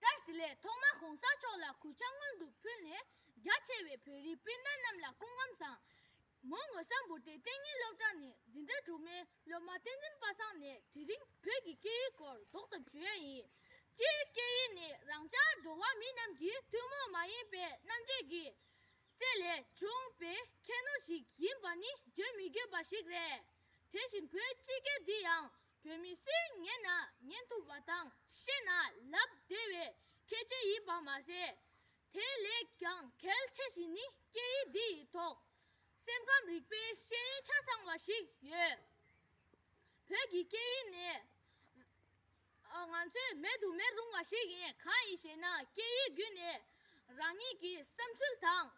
ཀྲེར་དེ་ལས་ཐོག་མ་གོང་ས་མཆོག་ལ་གུས་ཕྱག་སྔོན་དུ་ཕུལ་ནས་རྒྱ་ཆེ་བའི་བོད་རིགས་སྤུན་ཟླ་རྣམས་ལ་སྐུ་འགམ་བཟང། མོ་ངོ་ས་འབུར་ཏེ་གཏན་ཉིན་སློབ་གྲྭ་ནས་འཛིན་གྲྭ་དྲུག་མའི་སློབ་མ་བསྟན་འཛིན་པ་སངས་ནས་དེ་རིང་བོད་ཀྱི་སྐད་ཡིག་སྐོར་རྡོག་ཙམ་ཞུ་ཡ་ཡིན། སྤྱིར་སྐད་ཡིག་ནི་རང་ཅག་འགྲོ་བ་མི་རྣམས་ཀྱི་ཐུན་མོང་མ་ཡིན་པའི་རྣམ་འབྱེད་ཀྱི། བཅས་ལས་བྱུང་བའི་ཁྱད་ནོར་ཞིག་ཡིན་པ་ནི་བརྗོད་མི་དགོས་པ་ཞིག་རེད། དེ་བཞིན་བོད་སྤྱི་སྒེར་འདི་ཡང་བོད་མི་སུའི་ཉན་ན་ཉན་ཐུབ་པ་དང་ཤེས་ན་ལབ་བདེ་བའི་ཁྱད་ཆོས་ཡིན་པ་མ་ཟད། དེ་ལས་ཀྱང་གལ་ཆེ་ཞིང་ནི་སྐད་ཡིག་འདི་ཡི་ཐོག་སེམས་ཁམས་རིག་པའི་ཤེས་ཡོན་ཆ་ཚང་བ་ཞིག་ཡོད། བོད་ཀྱི་སྐད་ཡིག་ནི། ང་ཚོས་མེད་དུ་མི་རུང་བ་ཞིག་ཡིན་གང་ཡིན་ཞེ་ན་སྐད་ཡིག་བརྒྱུད་ནས་རང་ཉིད་ཀྱི་བསམ་ཚུལ་དང།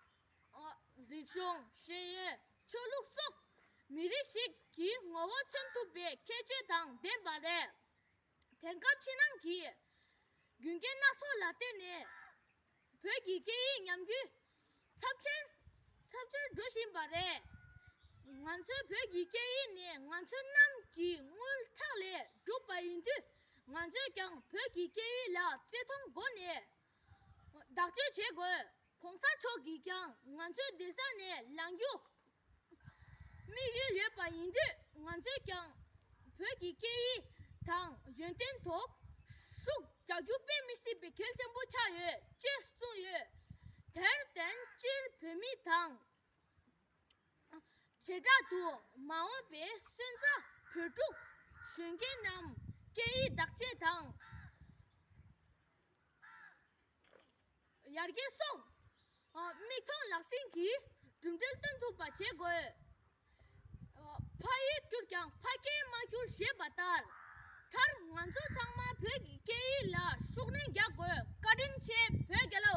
རིག་གཞུང། ཤེས་ཡོན། ཆོས་ལུགས་སོགས་མི་རིགས་ཤིག་གི་ངོ་བོ་མཚོན་ཐུབ་པའི་ཁྱད་ཆོས་དང་ལྡན་པ་རེད། དེང་སྐབས་ཕྱི་ནང་གི་རྒྱུ་རྐྱེན་སྣ་ཚོགས་ལ་བརྟེན་ནས་བོད་ཀྱི་སྐད་ཡིག་ཉམས་རྒུད་ཚབས་ཆེར་འགྲོ་བཞིན་པ་རེད། ང་ཚོའི་བོད་ཀྱི་སྐད་ཡིག་ནི་ང་ཚོ་རྣམས་ཀྱི་རྔུལ་ཁྲག་ལས་གྲུབ་པ་ཡིན་དུས་ང་ཚོས་ཀྱང་བོད་ཀྱི་སྐད་ཡིག་ལ་བརྩི་མཐོང་སྒོ་ནས་བདག་སྤྱོད་བྱེད་དགོས། གོང་ས་མཆོག་གིས་ཀྱང་ང་ཚོའི་སྡེ་སར་ནས་ལངས་རྒྱུ་དམིགས་ཡུལ་ཡོད་པ་ཡིན་དུས་ང་ཚོས་ཀྱང་བོད་ཀྱི་སྐད་ཡིག་དང་ཡོན་ཏན་ཐོག་ཤུགས་རྒྱག་རྒྱུ་དཔེ་མི་སྲིད་པའི་གལ་ཆེན་པོ་ཆགས་ཡོད་ཅེས་གསུངས་ཡོད། དེར་བརྟེན་སྤྱིར་བོད་མི་དང། བྱེ་བྲག་ཏུ་མ་འོངས་པའི་སོན་རྩ་བོད་ཕྲུག་གཞོན་སྐྱེས་རྣམས་སྐད་ཡིག་བདག་གཅེས་དང། ཡར་རྒྱས་སོགས་མིག་མཐོང་ལག་ཟིན་གྱིས་གྲུབ་འབྲས་སྟོན་ཐུབ་པ་བྱེད་དགོས། ཕ་ཡུལ་བསྐྱུར་ཀྱང་ཕ་རྒྱལ་མ་བསྐྱུར་ཞེས་པ་ལྟར། མཐར་ང་ཚོ་ཚང་མ་བོད་ཀྱི་སྐད་ཡིག་ལ་ཤུགས་སྣོན་རྒྱག་དགོས་བཀའ་དྲིན་ཆེ་བོད་རྒྱལོ།